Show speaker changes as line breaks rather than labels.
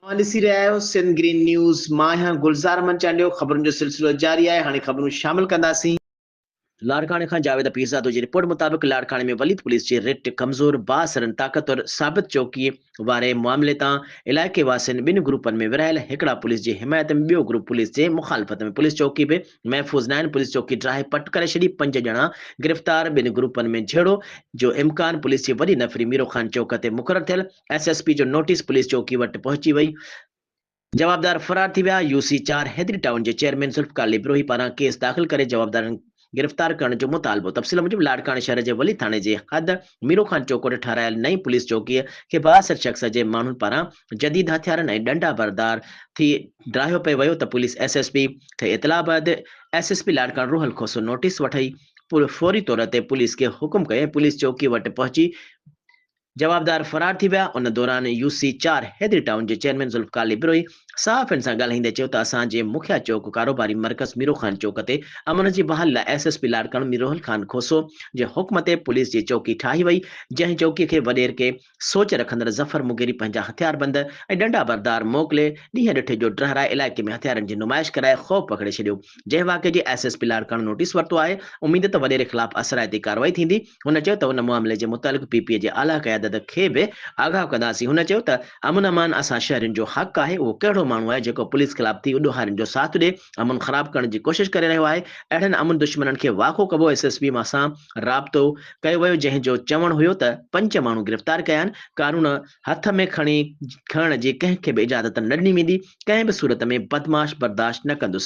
اوهان ڏسي رهيا آهيو سنڌ گرين نيوز مان آهيان گلزار احمد چانڊيو خبرن جو سلسلو جاري آهي هاڻي خبرون شامل ڪنداسين. لاڙڪاڻي کان جاويد پيرزادو جي رپورٽ مطابق لاڙڪاڻي ۾ وليد پوليس جي رٽ ڪمزور بااثرن طاقتور ثابت چوڪي واري معاملي تان علائقي واسين ٻن گروپن ۾ ورهايل هڪڙا پوليس جي حمايت ۾ ٻيو گروپ پوليس جي مخالفت ۾ پوليس چوڪي به محفوظ ناهن پوليس چوڪي ڊاهي پٽ ڪري ڇڏي پنج ڄڻا گرفتار ٻن گروپن ۾ جهيڙو جو امڪان پوليس جي وڏي نفري ميرو خان چوڪ تي مقرر ٿيل ايس ايس پي جو نوٽيس پوليس چوڪي وٽ پهچي وئي، جوابدار فرار ٿي ويا، يو سي چار حيدري ٽائون جي چيئرمين ذوالفقار علي بروهي پاران ڪيس داخل ڪري جوابدارن گرفتار ڪرڻ جو مطالبو، تفصيل موجب لاڙڪاڻي شهر جي ولي ٿاڻي جي حد ميرو خان چوڪ وٽ ٺهرايل نئين پوليس چوڪيء کي بااثر شخص جي ماڻهن پاران جديد هٿيارن ۽ ڏنڊا بردار ٿي ڊاهيو پئي ويو ته پوليس ايس ايس پي کي اطلاع بعد ايس ايس پي لاڙڪاڻي روحل کوسو نوٽيس وٺي فوري طور تي پوليس کي حڪم ڪيو ۽ پوليس چوڪي وٽ پهچي جوابدار فرار ٿي ويا، ان دوران يو سي چار حيدري ٽائون جي چيئرمين ذوالفقار علي بروهي صحافين سان ڳالهائيندي چيو ته اسان جي مکيه چوڪ ڪاروباري مرڪز ميرو خان چوڪ تي امن جي بحالي لاء S S P Larkana Mir Rohal Khan Khoso جي حڪم تي پوليس جي چوڪي ٺاهي وئي جنهن چوڪي کي وڏير ڪي سوچ رکندڙ ظفر مغيري پنهنجا هٿياربند ۽ ڏنڊا بردار موڪلي ڏينهن ڏٺ جو ڊهرائي علائقي ۾ هٿيارن جي نمائش ڪرائي خوف پکڙي ڇڏيو جنهن واقعي جي S S P Larkana notice ورتو آهي، اميد ته وڏيري خلاف اثرائتي ڪارروائي ٿيندي، هن چيو ته ان معاملي جي متعلق پي پي اي جي اعليٰ قيادت کي به آگاهه ڪنداسين، هن چيو ته امن امان اسان شهرين جو حق آهي، اهو ڪهڙو ماڻهو آهي جيڪو پوليس خلاف ٿي اڏوهارين جو ساٿ ڏي امن خراب ڪرڻ جي ڪوشش ڪري رهيو آهي، اهڙن امن دشمنن کي واکو ڪبو ايس ايس پي سان رابطو ڪيو ويو جنهن جو چوڻ هيو ته پنج ماڻهو گرفتار ڪيا آهن، قانون. هٿ ۾ کڻي کڻڻ جي ڪنهن کي به اجازت نه ڏني ويندي، ڪنهن به صورت ۾ بدمعاش برداشت نه ڪندس.